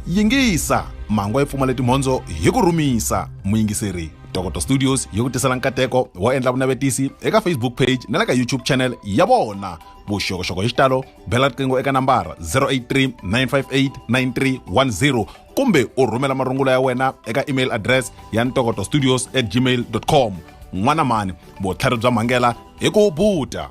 yingisa mhangu yi pfumale timhondzo hi ku rhumisa muyingiseri dokoto studios yi ku tisela nkateko wo endla vunavetisi eka facebook page na le ka youtube channel ya vona vuxokoxoko hi xitalo bela riqingho eka nambara 083 958 9310 kumbe u rhumela marungula ya wena eka email address ya ntokoto studios at gmail com n'wana mhani vutlhari bya mhangela hi ku buta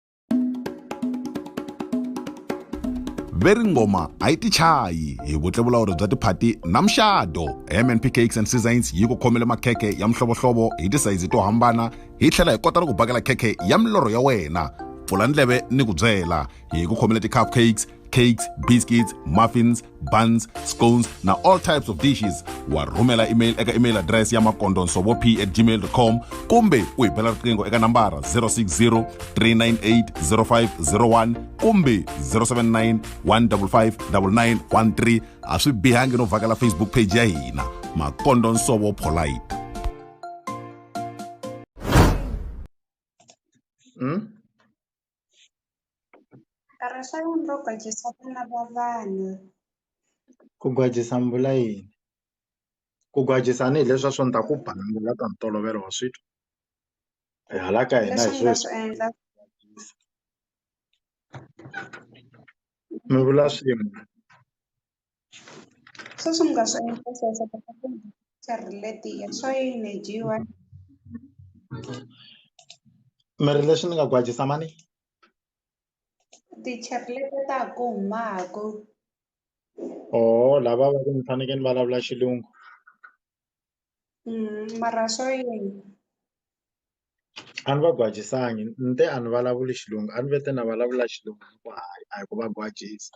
ve ri ngoma a yi tichayi hi vutlevulawuri bya tiphati na muxado mnp cakes and seasons yi ku khomele makhekhe ya mihlovohlovo hi tisayizi to hambana hi tlhela hi kota ni ku bakela khekhe ya milorho ya wena pfula ndleve ni ku byela hi ku khomele ti-cup cakes cakes biscuits muffins buns scones na all types of dishes wa rhumela email eka email address ya makondonsovo p at gmail com kumbe u hi bela riqingho eka nambara 060 398 0501 kumbe 079 155 9913 a swi bihangi no vhakela facebook page ya hina makondonsovo polite hmm? Nkarhi swa yini ro gwajisa vana va vanhu? Ku gwajisa mbula yini? Ku gwajisa a ni hi leswi a swo ni ta ku ba mbula ka ntolovelo wa switwa hi hala ka hina hi swo swi endla mi vula swin'we. Sweswi mi nga swi endla sweswo kota ku ri leti ya swa yini yi dyiwa. Mi ri lexi ni nga ku hatlisa mhani? Ti-church leti ta ha ku humaka. Ohoo lava va ku ni fanekele ni vulavula xilungu. Mara swa yini? A ni va gwajisangi ni te a ni vulavuli xilungu a ni va te ni vulavula xilungu hayi a hi ku va gwajisa.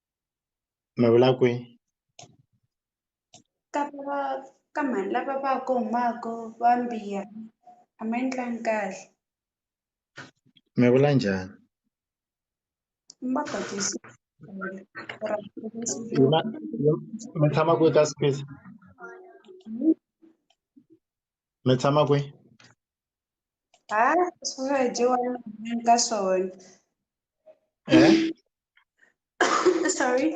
mi vula kwi ka va ka mhani lava va ku humaka va mbiya a ma endlangi kahle mi vula njhani ma mi tshama kwi ka space mi tshama kwi. Ah, isso é de uma mencações. É? Sorry.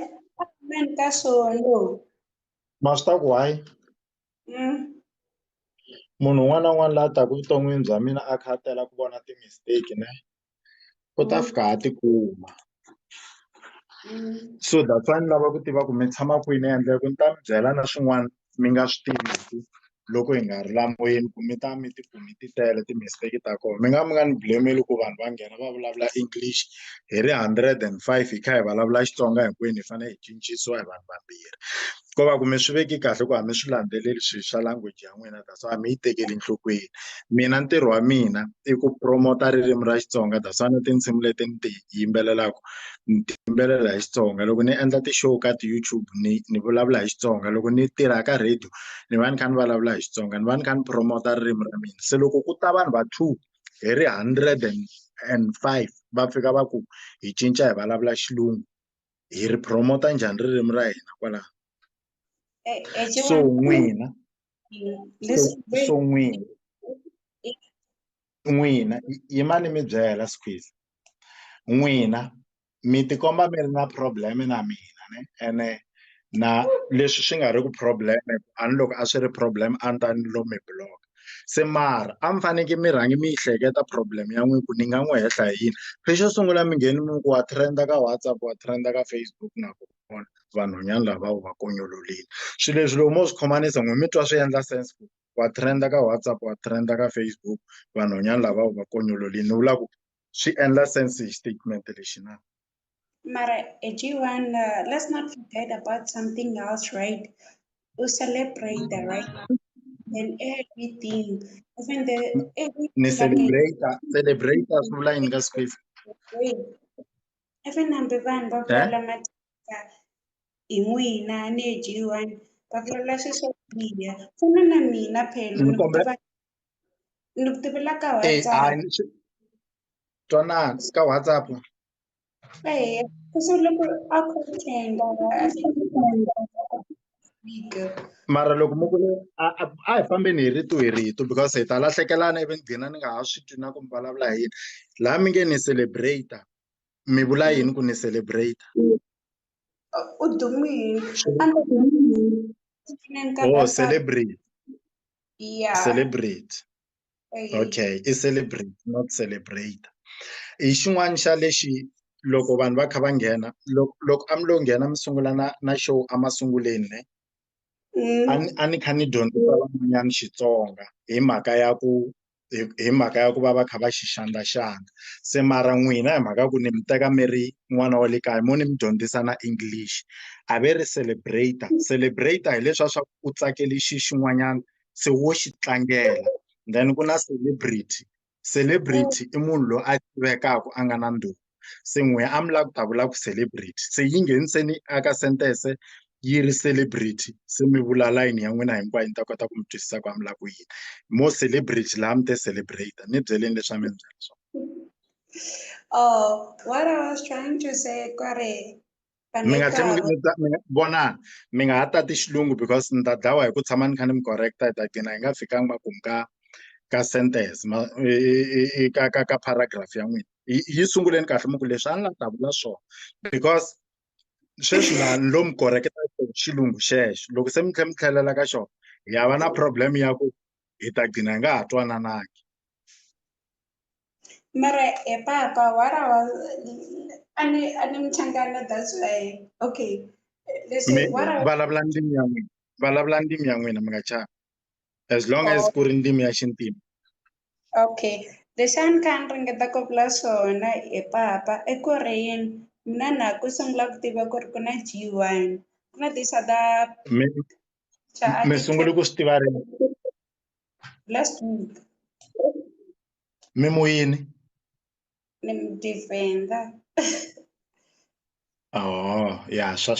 Mencações. Mas tá guai. Hum. munhu un'wana na un'wana la taka evuton'wini bya mina a kha a tela ku vona ti-mistake ne u ta fika a tikuma so that's why ni lava ku tiva ku mi tshama kwini ende ku ni ta mi byela na swin'wana mi nga swi tiviki loko hi nga ri la moyeni ku mi ta mi ti ku mi ti tele ti-mistake ta kona mi nga mi nga ni blame-li ku vanhu va nghena va vulavula English hi ri hundred and five hi kha hi vulavula Xitsonga hinkwenu hi fanele hi cincisiwa hi vanhu vambirhi ko va ku mi swi veki kahle ku a mi swi landzeleli swi swa language ya n'wina. that's why mi yi tekeli enhlokweni mina ntirho wa mina i ku promote ririmi ra Xitsonga that's why na tinsimu leti ni ti yimbelelaka ni ti yimbelela hi Xitsonga loko ni endla ti-show ka ti-YouTube ni ni vulavula hi Xitsonga loko ni tirha ka radio ni va ni kha ni vulavula hi Xitsonga ni va ni kha ni promote ririmi ra mina se loko ku ta vanhu va two hi ri hundred and and five va fika va ku hi cinca hi vulavula xilungu hi ri promote njhani ririmi ra hina kwala so n'wina Listen, wait. so n'wina n'wina yimani mi byela squeeze n'wina mi tikomba mi ri na problem na mina ne ene na leswi swi nga ri ku problem a ni loko a swi ri problem a ni ta ni lo mi block se mara a mi faneke mi rhangi mi yi hleketa problem ya n'wina ku ni nga n'wi hehla hi yini se xo sungula mi ngheni mi ku wa trend ka WhatsApp wa trend ka Facebook na kona vona vanhwanyana lava u va konyololile swi leswi loko mo swi khomanisa n'we mi twa swi endla sense ku wa trenda ka WhatsApp wa trenda ka Facebook vanhwanyana lava u va konyololile ni vula ku swi endla sense hi statement lexi na mara eh, G1 uh, let's not forget about something else right u celebrate right then everything even the everything ni celebrate celebrate swi vula yini ka Swift I fane hambi vanhu va vulavula matimba hi n'wina ni hi G one va vulavula swi swo biha fana na mina phela ni ku tiva ni ku tivela ka WhatsApp twanana ka WhatsApp eya kasi loko a ku tenda a swi mara loko mo ku a hi fambeni hi rito hi rito because hi ta lahlekelana ivi ni gina ni nga ha swi twi na ku mi vulavula hi yini laha mi nge ni celebrate mi vula yini ku ni celebrate u dumile oh celebrate celebrate okay i celebrate not celebrate hi xin'wana xa lexi loko vanhu va kha va nghena loko loko a mi lo nghena mi sungula na na show a masunguleni ne mm. a ni a ni kha ni dyondzisa van'wanyana Xitsonga hi mhaka ya ku hi mhaka ya ku va va kha va xi xandlaxandla se mara n'wina hi mhaka ku ni mi teka mi ri n'wana wa le kaya mo ni mi dyondzisa na English a ve ri celebrate celebrate hileswa swa u tsakele xi xin'wanyana se wo xi tlangela then ku na celebrity celebrity i munhu loyi a tivekaka a nga na ndhuma se n'we a mi lava ku ta vula ku celebrity se yi ngheniseni aka sentence yi ri celebrity se mi vula layini ya n'wina hinkwayo ni ta kota ku mi twisisa ku a mi lava ku yini mo celebrity laha mi te celebrate ni byeleni leswi a mi ni byela swona Oh, what I was trying to say, Kore, mi nga tlhe mi ta mi vona mi nga ha tati xilungu because ni ta dlawa hi ku tshama ni kha ni mi correct-a hi ta gcina hi nga fikanga makumu ka ka sentence ma ka ka ka paragraph ya n'wina yi sunguleni kahle mi ku leswi a ni la ta vula swona because sweswi la ni lo mi correct-a xilungu xexo loko se mi tlhe mi tlhelela ka xona hi ya va na problem ya ku hi ta gcina hi nga ha twananangi Mara he papa what I was ani ani mchangana that's why okay listen Me- what I vulavula ndimi ya n'wina vulavula ndimi ya n'wina mi nga chavi as long as Oh. ku ri ndimi ya xintima okay lexi a ni kha ni ringeta ku vula swona he papa i ku ri yini mina na ku sungula ku tiva ku ri ku na G one ku na this other mi cha mi sungule ku swi tiva ri Last week, mi mu yini ni mi defender. oh ya swa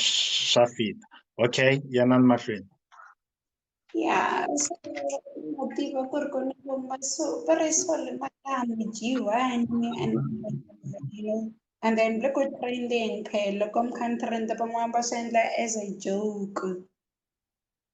swa fita okay yanani mahlweni Yeah, so na tiva ku ri ku ni kuma so very sorry madam G1 and you know, and then loko trending phela loko mi kha ni trend van'wana va swi endla as a joke.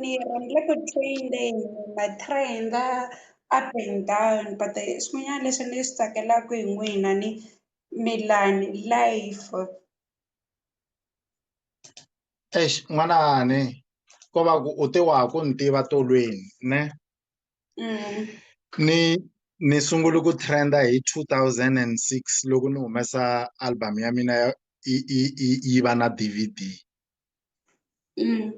ni rhandza ku trend-a hi ma trend-a up and down but swin'wanyana leswi ni swi tsakelaka hi n'wina ni Milani life. Eish n'wanani ko va ku u te wa ha ku ni tiva tolweni ne ni ni sungule ku trend-a hi two thousand and six loko ni humesa album ya mina yi yi yi yi va na D_V_D Mm.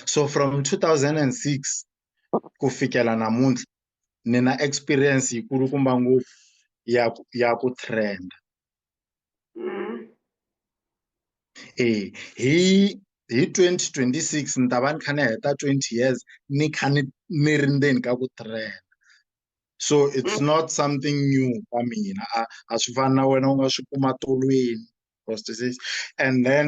so from 2006 ku fikela namuntlha ni na experience yikulukumba ngopfu ya ku- ya ku trend Mm. eh hi hi 2026 ni ta va ni kha ni heta 20 years ni kha ni ni ri ndzeni ka ku trend so it's not something new ka mina a a swi fani na wena u nga swi kuma tolweni cross disease and then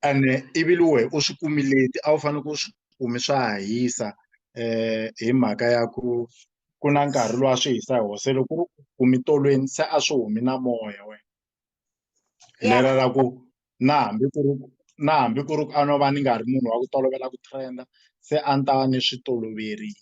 and ivi luwe u swi kumi leti a wu fanele ku swi kumi swa ha hisa um hi mhaka ya ku ku na nkarhi lowu a swi hisa hi wona se loko u kumi tolweni se a swi humi na moya wena hi lera ra ku na hambi ku ri na hambi ku ri ku a no va ni nga ri munhu wa ku tolovela ku trend-a se a ni ta va ni swi toloverile.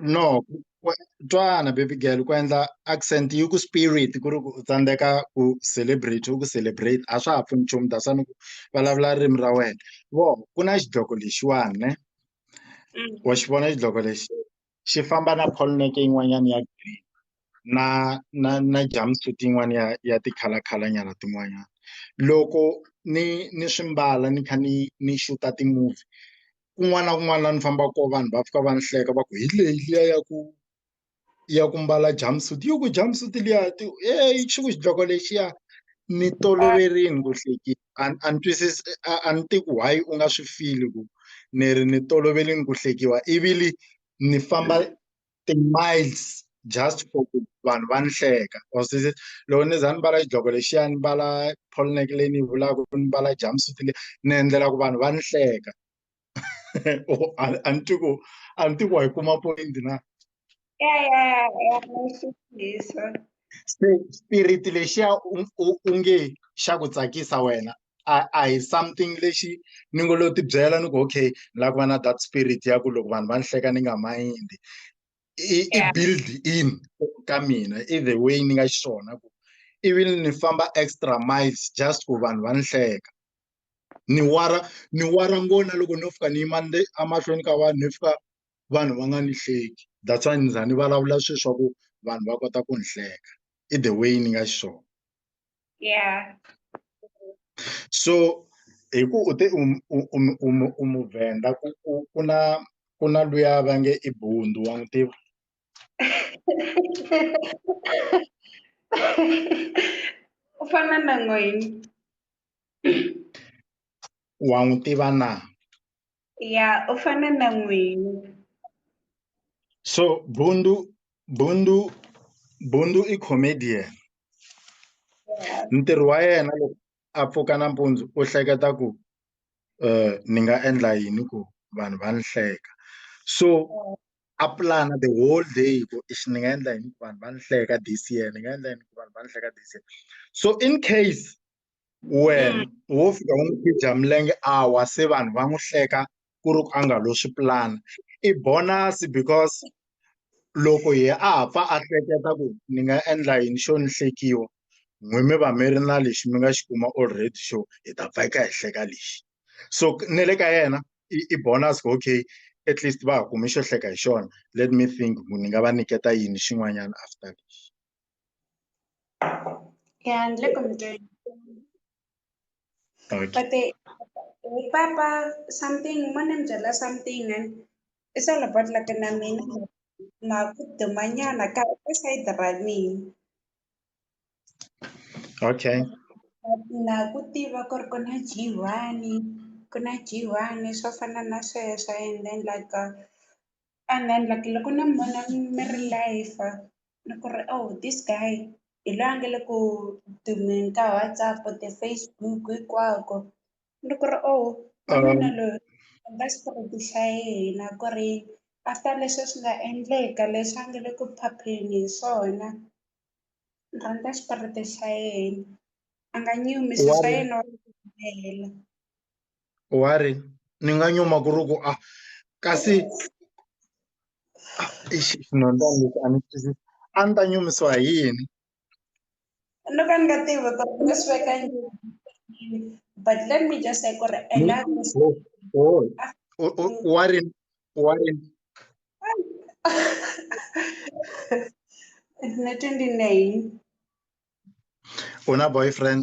no twana baby girl ku endla accent yi ku spirit ku ri ku u tsandzeka ku celebrate u ku celebrate a swa ha pfuni nchumu that's why ni ku vulavula ririmi ra wena vo ku na xidloko lexiwani ne mm. wa xi vona xidloko lexi xi famba na polneke yin'wanyana ya green na na na jumpsuit yin'wana ya ya ti-color color nyana tin'wanyana loko ni ni swi mbala ni kha ni ni xuta ti-movie kun'wana na kun'wana laha ni fambaka kona vanhu va fika va ni hleka va ku hi leyi liya ya ku ya ku mbala jump suit yi ku jump suit liya ti heyi xi ku xidloko lexiya ni toloverile ku hlekisa a ni a ni twisisi a a ni tivi ku why u nga swi feel ku ni ri ni toloverile ku hlekiwa ivile ni famba ti-miles just for ku vanhu va ni hleka or se loko ni za ni mbala xidloko lexiya ni mbala polo neck leyi ni yi vulaka ni mbala jumpsuit leyi ni endlela ku vanhu va ni hleka a ni twi ku a ni twi ku wa yi kuma point na se spirit lexiya u nge xa ku tsakisa wena a a hi something lexi ni ngo lo ti byela ni ku okay ni lava ku va na that spirit ya ku loko vanhu va ni hleka ni nga mayindi i i build in ka mina i the way ni nga xiswona ku ivi ni famba extra miles just ku vanhu va ni hleka ni wara ni wara ngona loko no fika ni yima le emahlweni ka vanhu ni fika vanhu va nga ni hleki that's why ni za ni vulavula sweswaku vanhu va kota ku ni hleka i the way ni nga xiswona yeah so hi ku u te u muvhenda ku na ku na luya va nge i bundu wa n'wi tiva u fana na n'wini wa n'wi tiva na ya u fana na n'wina so bundu bundu bundu i comedian ntirho wa yena loko a pfuka nampundzu u hleketa ku um ni nga endla yini ku vanhu va ni hleka so a pulana the whole day ku ixi ni nga endla yini ku vanhu va ni hleka this year ni nga endla yini ku vanhu va ni hleka this year so in case wena wo fika u n'wi khidya milenge a wa se vanhu va n'wi hleka ku ri ku a nga lo swi pulana i bonus because loko hi a ha pfa a hleketa ku ni nga endla yini xo ni hlekiwa n'wi mi va mi ri na lexi mi nga xi kuma already xo hi ta pfa eka hi hleka lexi so ni le ka yena i i bonus ku okay at least va ha kumi xo hleka hi xona let me think ku ni nga va niketa yini xin'wanyana after lexi And look, I'm doing. But the Papa something, Manam Jala something, and it's all about like an amin. the manana, side the Rami. Okay. Na kutiva kor kuna jiwani, kuna jiwani, so fanana sweswo, and then like, uh, and then like loko ni mi vona mi ri live ni ku ri oh this guy hi loyi a nga le ku dumeni ka WhatsApp, ti-Facebook hinkwako ni ku ri oh n'wanuna loyi u nga swi tiva ku xa yena ku ri after leswi swi nga endleka leswi a nga le ku phapheni hi swona ni rhandza xiporofeta xa yena a nga nyumi swilo swa yena wa swi humelela. wa ri ni nga nyuma ku ri ku a ah, kasi xinondzani ah, lexi a ni twisisi a ni ta nyumisiwa hi yini no ka ni nga tivi ku ni swi veka but let me just say ku ri ena wa ri wa ri na 29 u na boyfriend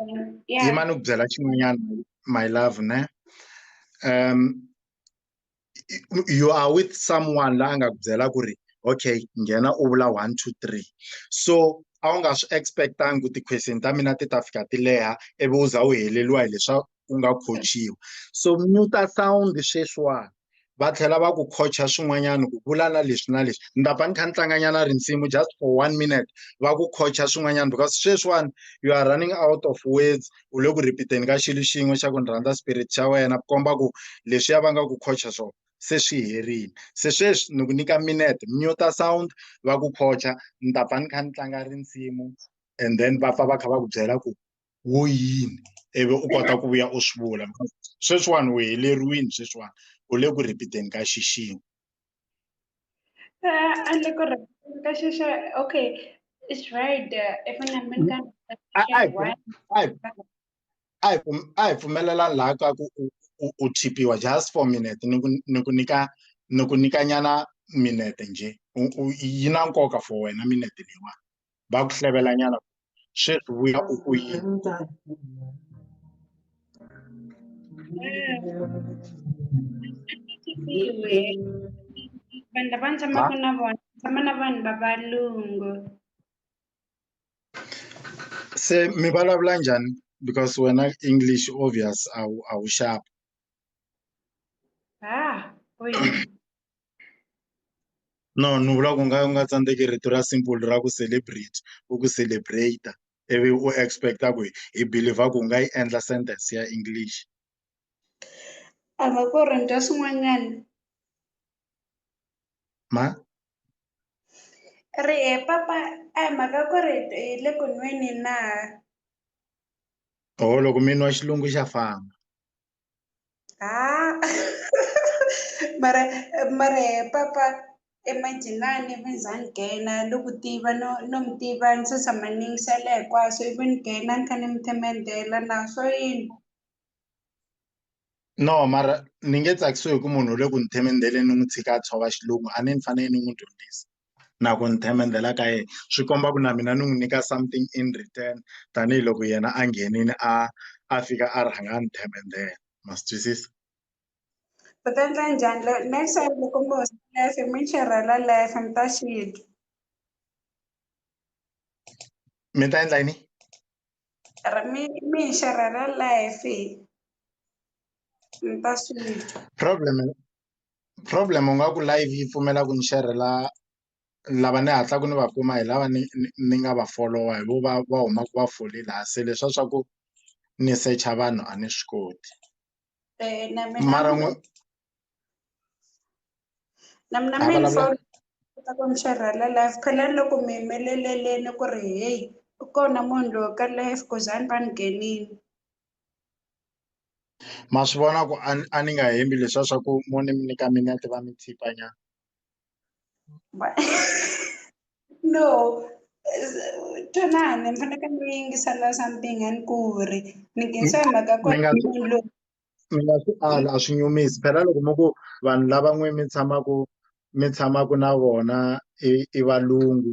Um, yeah. Yima ni ku byela xin'wanyana my love ne um you are with someone la a nga ku byela ku ri okay nghena u vula one two three so a wu nga swi expectangi ku ti-question ta mina ti ta fika ti leha ivi u za u heleliwa hi leswa u nga coachiwa so mute sound sweswiwani va tlhela va ku coacha swin'wanyana ku vula na leswi na leswi ni ta pfa ni kha ni tlanganyana risimu just for one minute va ku coacha swin'wanyana because sweswiwani you are running out of words u le ku repeat-eni ka xilo xin'we xa ku ni rhandza spirit xa wena ku komba ku leswiya va nga ku coacha swona se swi herile se sweswi ni ku nyika minute muta sound va ku coacha ni ta pfa ni kha ni tlanga risimu and then va pfa va kha va ku byela ku wo yini ivi u kota ku vuya u swi vula sweswiwani u heleriwini sweswiwani u le ku repeateni ka xixini eh, a le ku repeateni ka xixa okay it's right eh, if an american a hi pfumelelani laha ka ku u thipiwa just for minute ni ku ni ku nyika ni ku nyika nyana minete njhe yi na nkoka for wena minete leyiwani va ku hlevela nyana sweswi vuya u ku yini vanhu lava ni tshamaka na vona tshama na vanhu va valungu se mi vulavula njhani because wena english obvious a wu a wu xapa ah no ni vula ku nga u nga tsandzeki rito ra simple ra ku celebrate u ku celebrate ivi u expecta ku hi believer ku nga yi endla sentence ya english a va ku ri nta swin'wanyana ma ri e papa a hi mhaka ku ri hi le ku nweni na oho loko mi nwa xilungu xa famba Ah, mara mara eh, papa emajenani even zanigena lokutiva no no mi tiva ni se tshama ni yingisela hinkwaswo even gena ni kha ni mi themendela na swo yini no mara ni nge tsakisiwi hi ku munhu u le ku ni themendeleni ni n'wi tshika a tshova xilungu a ni ni fanele ni n'wi dyondzisa na ku ni themendhela ka yena swi komba ku na mina ni n'wi nyika something in return tanihiloko yena a nghenini a a fika a rhanga a ni themendhela ma swi twisisa u ta endla njhani lo next time loko mi hosi life mi xerhela life mi ta xi dya mi ta endla yini ri mi mi hi xerhela life mi ta swi dya problem problem u nga ku live yi pfumela ku ni xerhela lava ni hatlaku ni va kuma hi lava ni ni ni nga va folowa hi vo va va humaku va fole la se leswa swa ku ni secha vanhu a ni swi koti mara n'we na mina mi ni fona kota ku ni xerhela live phela ni loko mi yimeleleleni ku ri heyi u kona munhu loyi ka live ku za ni va ni nghenini ma swi vona ku a a ni nga hembi leswiya swa ku mo ni mi nyika minete va mi tshipa nyana no twanani mi fanekele mi yingisela something a ni ku ri ni nghenisa hi mhaka ku mi nga swi munhu loyi mi nga swi ala a swi nyumisi phela loko mi ku vanhu lava n'we mi tshamaku mi tshamaku na vona i i valungu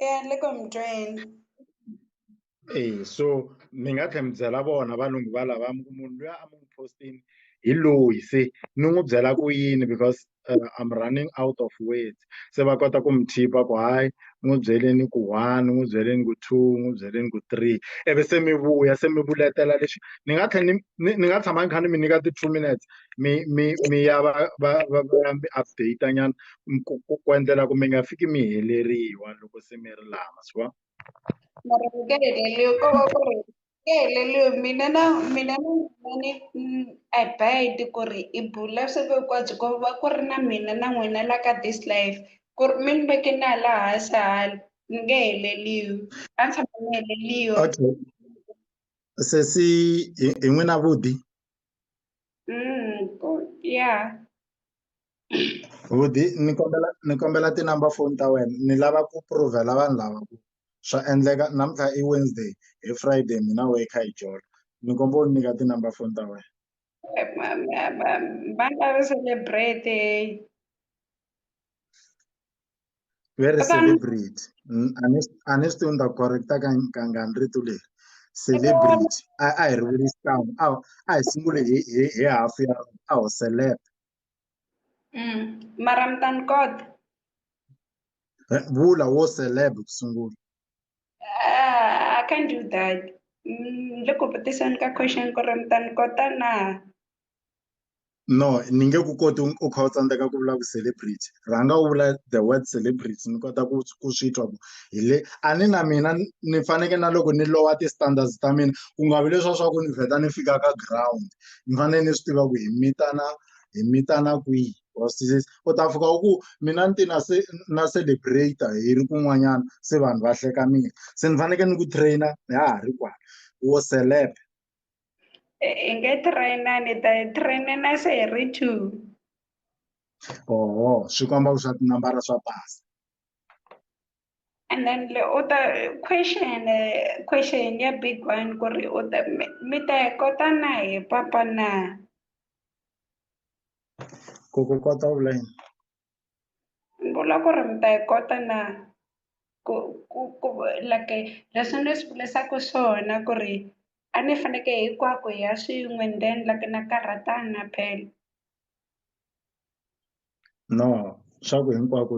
Yeah, look, I'm drained. Eh, so ni nga tlhela mi byela vona valungu va lava mi ku munhu loyi a mi n'wi postini hi loyi se ni n'wi byela ku yini because uh, I'm running out of words se va kota ku mi chipa ku hayi n'wi byeleni ku one n'wi byeleni ku two n'wi byeleni ku three ivi se mi vuya se mi vuletela lexi ni nga tlhela ni ni ni nga tshama ni kha ni mi nyika ti-two minutes mi mi mi ya va va va va ya mi update nyana ku ku ku endlela ku mi nga fiki mi heleriwa loko se mi ri laha ma swi vona mara mi nge heleliwi ko va ku ri mi nge heleliwi mina na mina na n'wina ni mm, I bide ku ri i bula siku hinkwabyo ko va ku ri na mina na n'wina la ka this life ku ri mi ni veke na hala hansi hala ni nge heleliwi a ni tshama ni heleliwa okay sesi hi hi n'wina vudi Mm, ko- yeah Budi ni kombela ni kombela ti-number foni ta wena ni lava ku prove-la vanhu lava ku swa endleka namuntlha i Wednesday hi Friday mina wehe hi kha hi jola ni komba u ni nyika ti-number foni ta wena va nga ri celebrate very celebrity a ni a ni swi tivi ni ta correcta ka kangani rito leri celebrity a a hi ri vuli xikan'we a a hi sungule hi hi hi hafu ya a ho celeb Mm. Mara mi ta ni kota. Eh, Vula wo celeb ku sungula. Ah, I can't do that. Mm, le ku vutiseni ka question ku ri mi ta ni kota na. No, ni nge ku koti u- u kha u tsandzeka ku vula ku celebrity. rhanga u vula the word celebrity ni kota ku ku swi twa ku hi le a ni na mina ni faneke na loko ni lowa ti-standards ta mina ku nga vi leswa swa ku ni vheta ni fika ka ground ni fanele ni swi tiva ku hi mitana hi mitana kwihi u ta fika u ku mina ni ti na se na celebrate hi ri kun'wanyana se vanhu va hleka mina se ni faneke ni ku trainer ha ha ri kwala wo celeb Eh, Inge trainer ni ta yi trainer na se hi ri two. oho swi komba ku swa tinambara swa pasa And then le u ta question eh, question ya big one ku ri u ta mi mi ta yi kota na hi papa na. ku ku kota u vula yini ni vula ku ri mi ta yi kota na ku ku ku like leswi ni swi vurisaku swona ku ri a ni faneke hinkwako hi ya swin'we ni ta endla ku na karhatana phela no swa ku hinkwako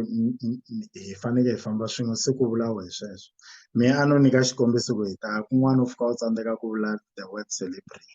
hi faneke hi famba swin'we se ku vula wehe sweswo mehe a no nyika xikombiso ku hi ta kun'wana u fika u tsandzeka ku vula the word celebrity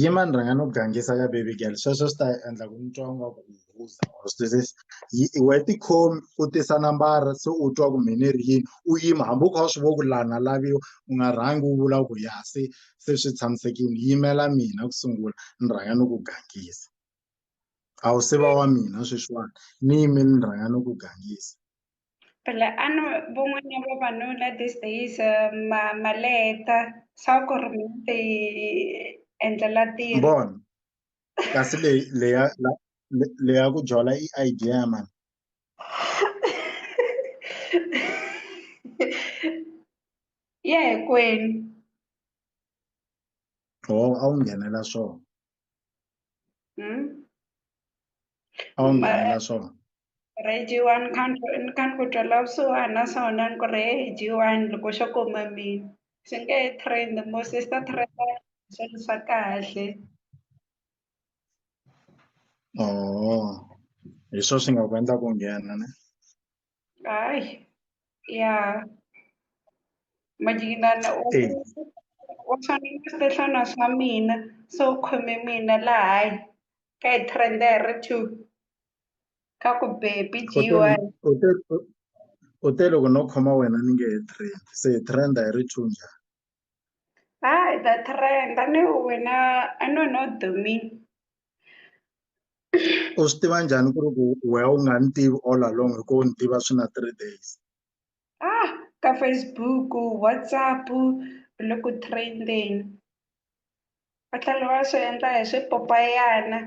yima ni rhanga ni ku gangisa ka baby girl sweswo swi ta endla ku ni twa nga ku uza or swi twisisa we tikhomi u tisa nambara se u twa ku mine ri yini u yima hambi u kha u swi vo ku lana laviwa u nga rhangi u vula ku ya se se swi tshamisekile yimela mina ku sungula ni rhanga ni ku gangisa a wu se va wa mina sweswiwani ni yimile ni rhanga ni ku gangisa. Phela a no van'wana vavanuna these days eh, ma ma leta sa ku ri mi ti endlela tiro bon kasi leyi leya la- le- leya ku jola i idea ya mani ya hinkwenu ho a wu nghenela swona a wu nghena na swona rhejiwani khankani kani ku twela vusiwana na swona ni ku rhejiwani loko xo kuma mina swi nge he trend mo sister trend swilo swa kahle oo hi swo swi nga ku endla ku nghena ne Ay, ya. Majinana u Eh. u fanele ku swihlana swa mina so u khome mina laha hayi ka hi trenda hi ri two ka ku bebi U te- dyiwa u te- u- u te loko no khoma wena ni nge he trend se hi trenda hi ri two njhani Hi, the trend. I know when I, I know not the mean. u swi tiva njhani ku ri ku wehe u nga ni tivi all along hi ku u ni tiva swi na three days Ah, ka Facebook, WhatsApp, loko trending. Va tlhela va swi endla hi swipopayana.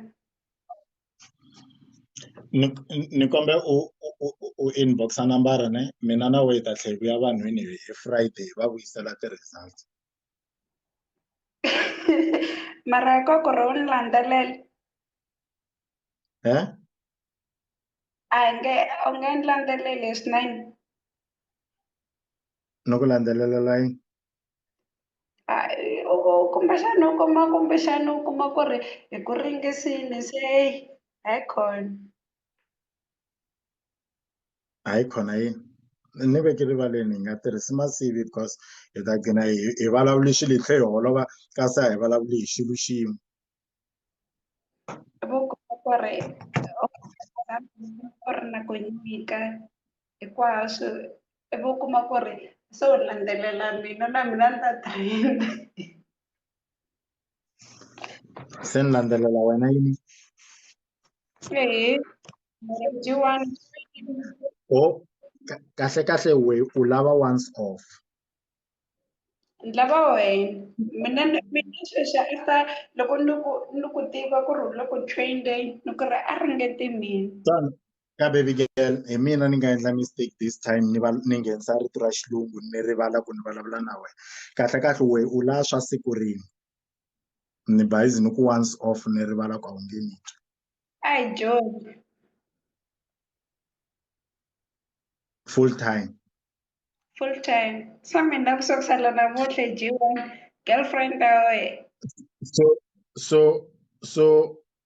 ni ni ni kombela u u u u u inbox-a nambara ne mina na we hi ta tlhe hi vuya vanhwini hi hi Friday hi va vuyisela ti-results. mara koko ro ni landzelela He? a hi nge u nge ni landzeleli hi swinene Ni ku landzelelela yini? A i- u u- kumbexani u kuma kumbexani u kuma ku ri hi ku ringisini se eyi a yi khona hayi khona yini ni veke rivaleni hi nga tirhisi masivi because hi ta gcina hi hi vulavuli xilo hi tlhe hi holova kasi a hi vulavuli hi xilo xin'we gore gore nako e nne ka e kwa so e bo kuma gore se o landelela mina na mina ni ta trend se ni landzelela wena yini ee jiwani o kahle kahle we u lava once off ni lava wena mina mina sweswi a sa loko ni ku ni ku tiva ku ri loko train day ni ku ri a ringete mina Tani ka baby girl hi mina ni nga endla mistake this time ni va ni nghenisa rito ra xilungu ni rivala ku ni vulavula na wena kahle kahle we u la swa siku rini ni bayizi ni ku once off ni rivala ku a wu nge ni twi ai joke full time Full time. Sami ndafisa kusala namuhle jiwa girlfriend awe. So so so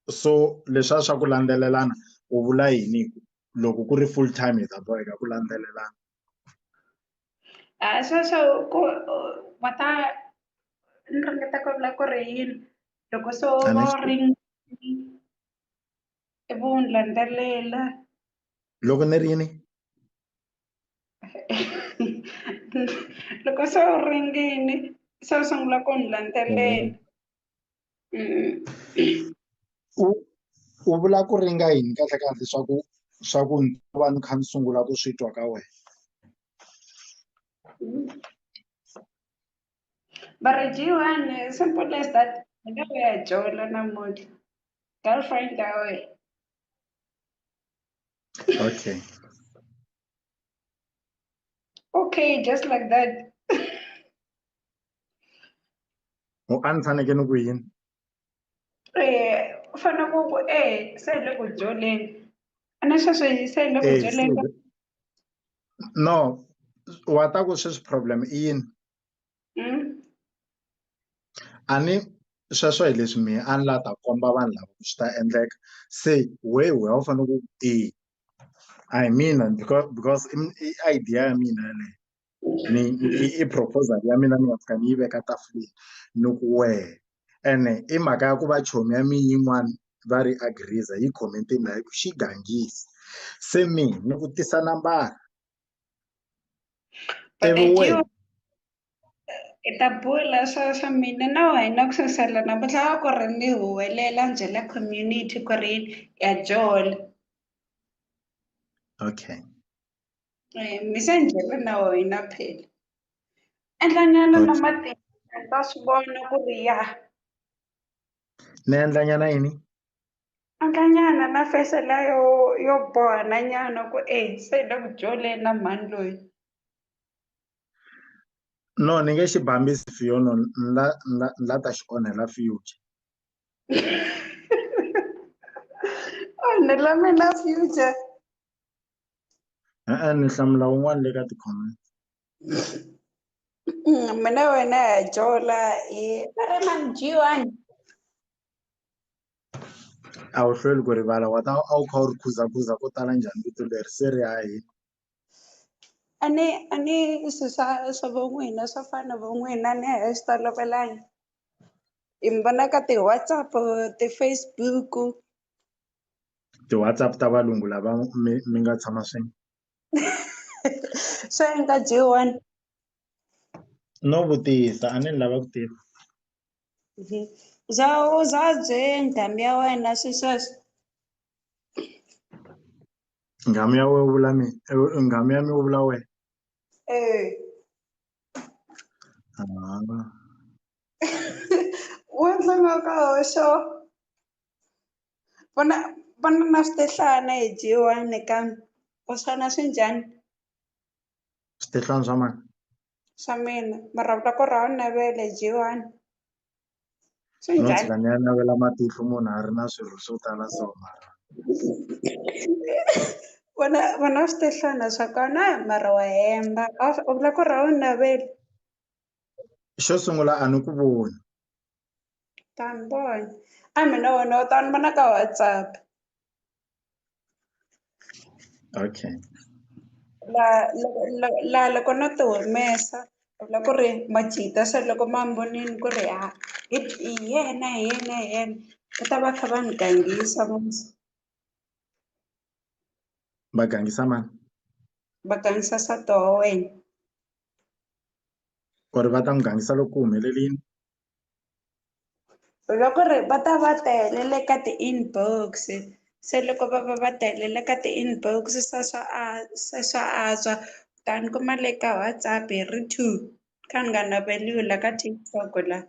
so lesha swa ku landzelelana u vula yini loko ku ri full time hi ta boheka ku landzelelana. Ah so so ku mata ni ringeta ku vula ku ri yini loko so ring i vu landzelela. Loko ni ri yini? loko se u ringini se u sungula ku ni landzelela mm-hmm. u u vula ku ringa yini kahle kahle swa ku swa ku ni ta va ni kha ni sungula ku swi twa ka wena va ri jiwan simple as that ni nga ya jola namuntlha girlfriend ya wena Okay. Okay, just like that. u a ni faneke ni ku yini Eh, u fanele ku ku eh se hi le ku dyoleni. A ni sweswi se hi le ku Eh, dyoleni. se- no wa ta ku sweswi problem i yini mm. a ni sweswo hi leswi mina a ni la ta komba vanhu lava swi ta endleka se wehe wehe a wu fanele ku e a hi mina because because i idea ya mina yeleyo ni i proposal ya mina ni nga fika ni yi veka tafuleni ni ku wehe ene i mhaka ya ku va chomi ya mi yin'wana va ri agriza yi commentini laha ku xi gangisi se mina ni ku tisa nambara But they do ta bula swa swa mina na wena ku sasela namuntlha wa ku ri ni huwelela byela community ku ri ya jola okay eh, mi se njhela na wena phela endlanyana na matimba ta swi vona ku ri ya ni endlanyana yini Anhlanyana na face la yo yo boha na nyana ku e se le ku jole na mhani loyi no ni nge xi bambisi fiyo no la la la ta xi onhela future onhela mina future e-e ni hlamula un'wana le ka ti-comment mm, mina wena ya jola hi a ri manjiwani a wu hlweli ku rivala wa ta a wu kha u ri khuzakhuza ko tala njhani vito leri se ri ya hi a ni a ni swi swa swa vo n'wina swa fana na vo n'wina ni a swi tolovelanga hi mi vona ka ti-Whatsapp ti-Facebook ti-Whatsapp ta valungu lava mi mi nga tshama swin'we swa nga dyiwani no vutisa a ni lava ku tiva. Mhm. za u za byeni ndhambi ya wena swi sweswo nghamu ya we u vula mi eh, nghamu ya mi u vula wena Eh, Ah, u endla nga ka hoxo vona vona na switehlana hi dyiwani kambe u swona swi njhani Switirhani swa mani? Swa mina. Marhavula ku rhawa navele Jewani. Swi njhani? Tshika ni ya navela matihlo munhu a ri na swirho swo tala so mara. Vona vona switehlana swa kona mara wa hemba. U vula ku rhawa navele. Xo sungula a ni ku voni. Ta ni vona. A mina wena u ta ni vona ka WhatsApp. okay la loko la la loko no ti humesa u vula ku ri majita se loko ma ni vonile ku ri ha hi hi yena hi yena hi yena va ta va kha va ni gangisa va gangisa mani va gangisa nsati wa wena or va ta n'wi gangisa loko ku humelelini. loko ri va ta va tele le ka ti-inbox se loko va va va tele le ka ti-inbox swa swa a se swa antswa ta ni kuma le ka WhatsApp hi ri two kha ni nga naveliwi la ka TikTok la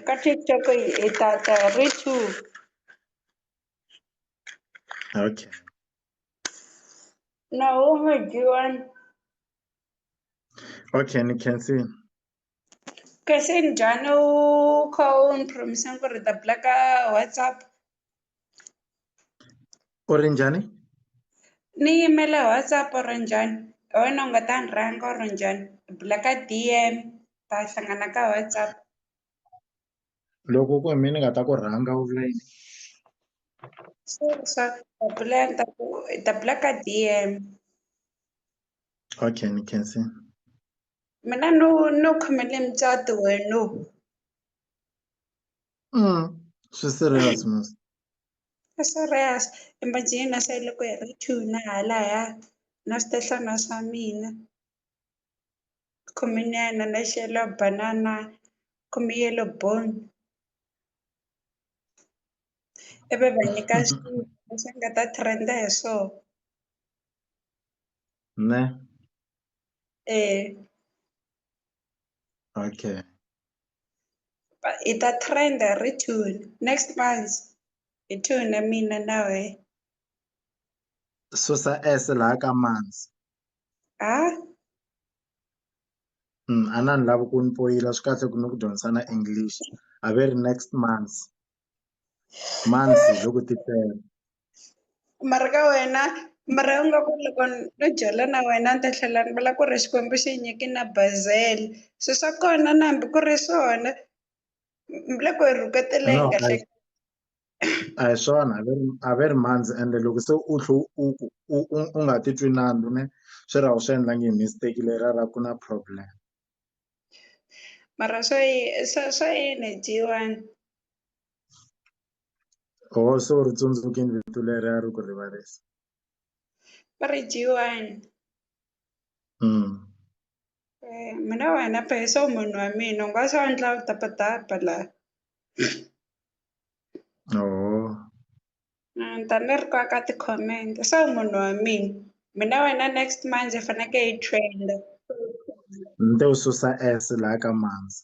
ka TikTok yi hi ta ta hi ri two okay na wun'we G1 Okay, ni khensile. Kasi njhani u kha u ni promise ku ri ta blacka WhatsApp? U ri njhani? Ni yimela WhatsApp u ri njhani? Hi wena u nga ta ni rhanga u ri njhani? Blacka D_M ta hlangana ka WhatsApp. Loko ku hi mina ni nga ta ku rhanga u vula yini? Sure sure ta bula ta ku ta blacka D_M. Okay, ni khensi. Mina no no khomele mucato wenu. Mm, swi serious mos. Swi serious. Imagine na se loko hi ri two na halaya na swihlana swa mina. Khominyana na xelo banana khome yellow bone. Ivi va nyika xilo lexi nga ta trend-a hi swona. Né? É. Ok. Ita trend return. Next month. Return na mina nawe. Susa S laha ka manzi. Ah? Mm, a na ni lavi ku ni poyila swi kahle ku ni ku dyondzisana English. A ve ri next month. months loko ti tele mara ka wena mara u nga ku loko no byala na wena ni ta tlhela ni vula ku ri xikwembu xi nyiki na bazele swi swa kona na hambi ku ri swona le ku rhuketeleni kahle a hi swona a ve ri a ve ri mandzi ende loko se u tlhe u ku u u nga titwi nandzu ne swi ra u swi endlangi hi mistake leriya ra ku na problem. mara swa yi- swa swa yini dyiwani oo se u ri tsundzukini vito leri a ri ku rivarisa va ri dyiwani Mm. Eh, mina wena peso munhu wa mina u nga swa endla tapatapa laha oo A ni ta ni ri ka ti-comment se munhu wa mina mina wena next manjhe hi faneke hi trend-a ni to susa S la ka manzi.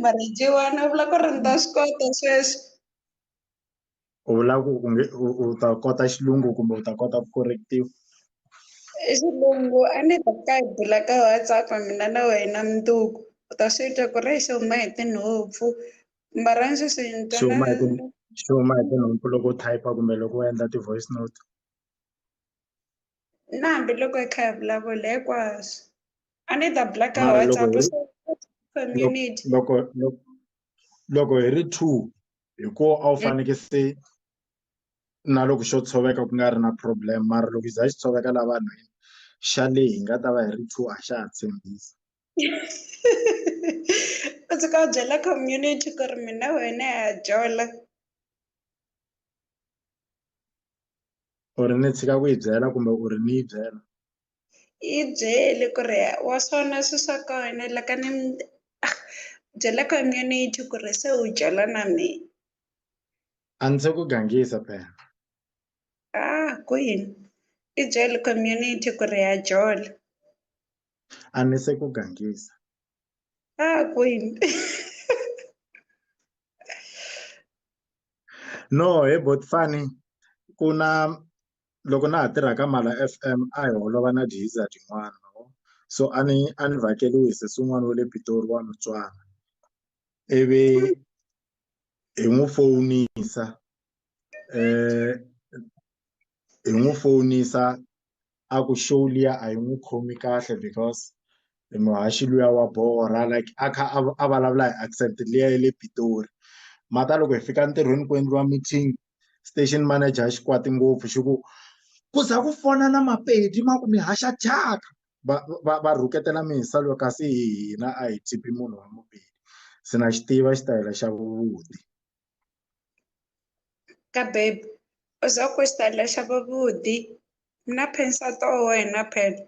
mara G1 u vula ku ri ni ta swi kota sweswi U vula ku u nge u u ta kota xilungu kumbe u ta kota ku correct-iwa? i xilungu a ni ta ka hi bula ka WhatsApp mina na wena mundzuku u ta swi twa ku ri exi huma hi tinhompfu Mbara ndzi swi swi huma hi ku swi huma hi tinhompfu loko u type kumbe loko u endla ti-voice note na hambiloko hi kha hi vulavula hinkwaswo a ni ta blacka Mara loko WhatsApp hi- so community loko loko loko hi ri two hi ko a wu faneke se na loko xo tshoveka ku nga ri na problem mara loko yi za yi tshoveka laha vanhwini xa le hi nga ta va hi ri two a xa ha tshembisi. u suka u byela community ku ri mina wena ha jola u ri ni tshika ku yi byela kumbe u ri ni yi byela yi byele ku ri wa swona swi swa kona la ka ni ah, byela community ku ri se u jola na mina a ndzi se ku gangisa phela ah kwini i byele community ku ri ha jola a ni se ku gangisa ah kwini no he botfani ku na loko na ha tirha ka mala f m a hi holova na diza tin'wana so a ni a ni vhakeliwi hi sesi un'wana wa le pitori wa mutswana ivi hi n'wi fowunisa eh hi n'wi fowunisa a ku show liya a yi n'wi khomi kahle because i muhaxi luya wa borha like a kha a a vulavula hi accent liya ya le Pitori mara loko hi fika ntirhweni ku endliwa meeting station manager a xi kwata ngopfu xi ku ku za ku fona na Mapedi ma ku mi haxa thyaka va va va rhuketela mindzisano kasi hina a hi chipi munhu wa Mupedi se na xi tiva xitayele xa vuti. ka bebe o za ku xitayele xa vavudi na pensata wa wena phela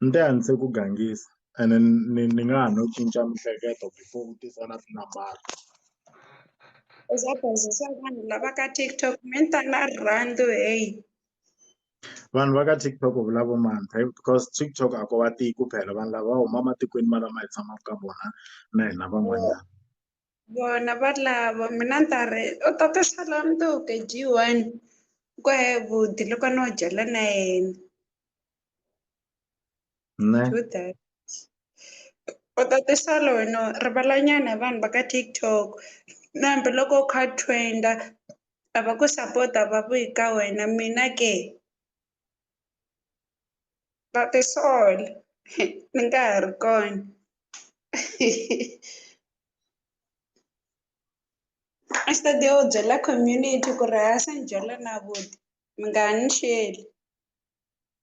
ni te a ni se ku gangisa ene ni ni nga ha no cinca mihleketo before u tisa na tinambara u za bazisa vanhu lava ka tiktok mental rhandi heyi vanhu va ka TikTok u vula vo mani phela because TikTok a ko va tiyi ku phela vanhu lava va huma ematikweni ma lama hi tshamaka ka vona na hina van'wanyana vona va lava mina ni ta ri u ta ti sala mntuke g one ku he budi loko no dyela na yena nṋe True that. U ṱaṱisela no ri vhala nyana vanhu vha kha TikTok na hambiloko u kha trenda a va ku sapota va ku hi ka wena mina ke va tisola ni nga ha ri kona a xi ta ti u byela community ku ri ha sanjhela na vuti mi nga ha ni xeli.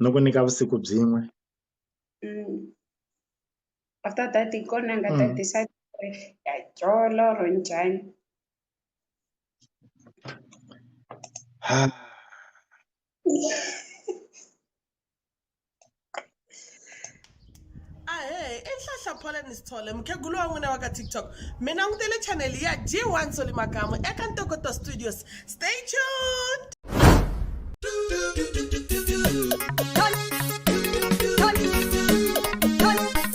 no ku nyika vusiku byin'we mm. after that hi kona nga ta mm. decide ku ri ya dyolo or njhani a hehe i nhlahla poleni sithole mukhegulu wa n'wina wa ka tiktok mi langutele chaneli ya g one soli makamu eka ntokoto studios stay tuned